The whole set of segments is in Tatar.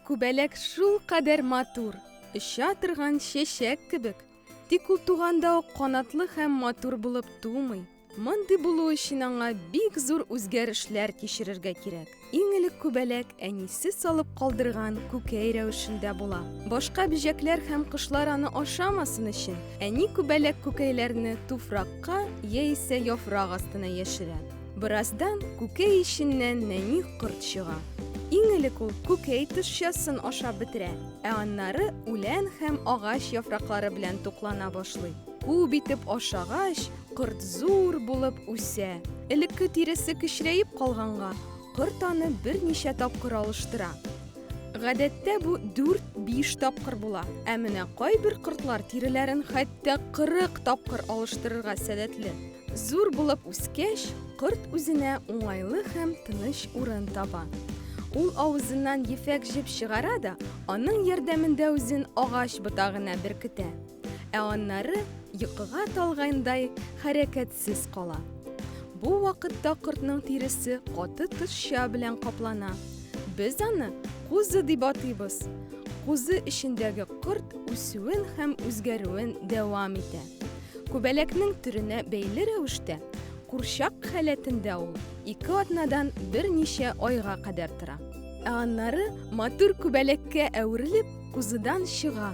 Күбәләк шул кадәр матур, оча торган чәчәк кебек. Тик ул туганда ук канатлы һәм матур булып тумый. Мондый булу өчен аңа бик зур үзгәрешләр кичерергә кирәк. Иң элек күбәләк әнисе салып калдырган күкәй рәвешендә була. Башка бөҗәкләр һәм кошлар аны ашамасын өчен, әни күбәләк күкәйләрне туфракка яисә яфрак астына яшерә. Бераздан күкәй эченнән нәни корт чыга. Иң элек ул күкәй тышчасын ашап бетерә, ә аннары үлән һәм агач яфраклары белән туклана башлый. Күп итеп ашагач, Корт зур булып үсә. Элекке тиресе кечерәеп калганга, корт аны берничә тапкыр алыштыра. Гадәттә бу 4-5 тапкыр була. Ә менә кайбер кортлар тиреләрен хәтта 40 тапкыр алыштырырга сәләтле. Зур булып үскәч, корт үзенә уңайлы һәм тыныч урын таба. Ул авызыннан ефәк җеп чыгара да, аның ярдәмендә үзен агач ботагына беркетә. Ә аннары йокыга талгандай хәрәкәтсез кала. Бу вакытта кортның тиресе каты тышча белән каплана. Без аны кузы дип атыйбыз. Кузы эчендәге корт үсүен һәм үзгәрүен дәвам итә. Күбәләкнең төренә бәйле рәвештә, курчак халәтендә ул ике атнадан берничә айга кадәр тора. Ә аннары матур күбәләккә әверелеп, кузыдан чыга.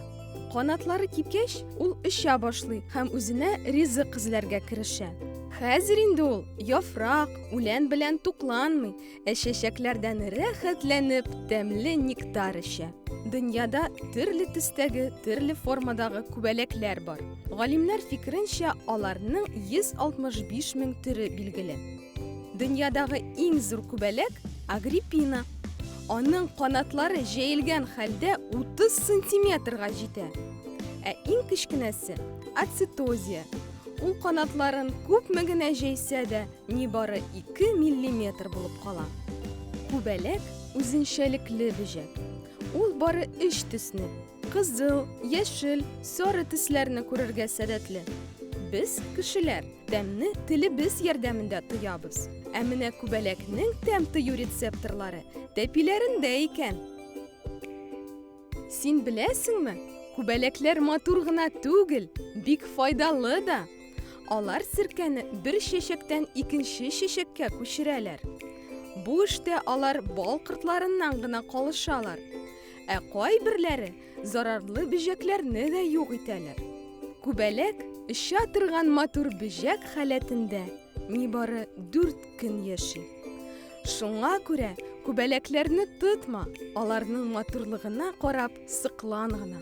Канатлары кипкәч, ул оча башлый һәм үзенә ризык эзләргә керешә. Хәзер инде ул яфрак, үлән белән тукланмый, ә чәчәкләрдән рәхәтләнеп тәмле нектар эчә. Дөньяда төрле төстәге, төрле формадагы күбәләкләр бар. Галимнәр фикеренчә, аларның 165 мең төре билгеле. Дөньядагы иң зур күбәләк Агриппина. Аның канатлары җәелгән хәлдә 30 сантиметрга җитә. Ә иң кечкенәсе Ацитозия. Ул канатларын күпме генә җәйсә дә, нибары 2 миллиметр булып кала. Күбәләк үзенчәлекле бөҗәк. Ул бары өч төсне, Кызыл, яшел, сары төсләрне күрергә сәләтле. Без, кешеләр, тәмне телебез ярдәмендә тоябыз. Ә менә күбәләкнең тәм тою рецепторлары тәпиләрендә икән. Син беләсеңме? Күбәләкләр матур гына түгел, бик файдалы да. Алар серкәне бер чәчәктән икенче чәчәккә күчерәләр. Бу эштә алар бал кортларыннан гына калышалар. Ә кайберләре зарарлы бөҗәкләрне дә юк итәләр. Күбәләк оча торган матур бөҗәк халәтендә нибары 4 көн яши. Шуңа күрә күбәләкләрне тотма, аларның матурлыгына карап сыклан гына.